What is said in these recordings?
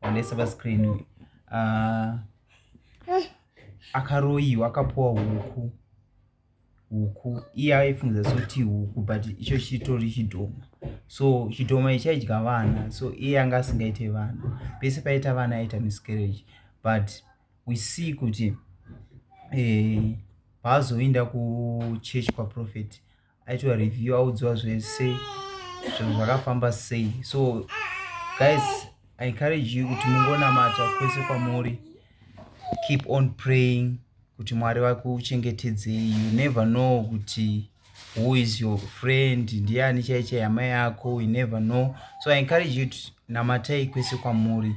onesa pascreen uyu ah, akaroyiwa akapuwa huku huku iye aifungiza soti huku but icho chitori chidhoma so chidhoma ichaidya vana so iye anga asingaite vana pese paita vana aita miscarriage but we see kuti eh, paazoenda kuchurch kwaprofeti aitwa review audziwa zvese zvinhu zvakafamba sei so guys i encourage you kuti mungonamata kwese kwamuri keep on praying kuti mwari vakuchengetedzei you never know kuti who is your friend ndiani chaichai hama yako you never know so i encourage you to namatai kwese kwamuri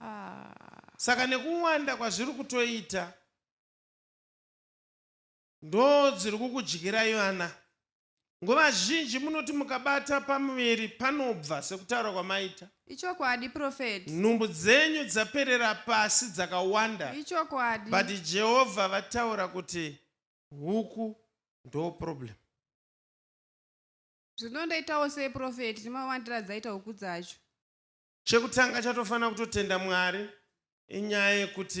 Ah. Saka nekuwanda kwazviri kutoita ndo dziri kukudyirai vana. Nguva zhinji munoti mukabata pamuviri panobva sekutaura kwamaita. Ichokwadi prophet. Nhumbu dzenyu dzaperera pasi dzakawanda. Ichokwadi. But Jehovha vataura kuti huku ndo problem. Zvinondoitawo sei prophet, ndimawandira dzaita huku dzacho. Chekutanga chatofanira kutotenda Mwari inyaya yekuti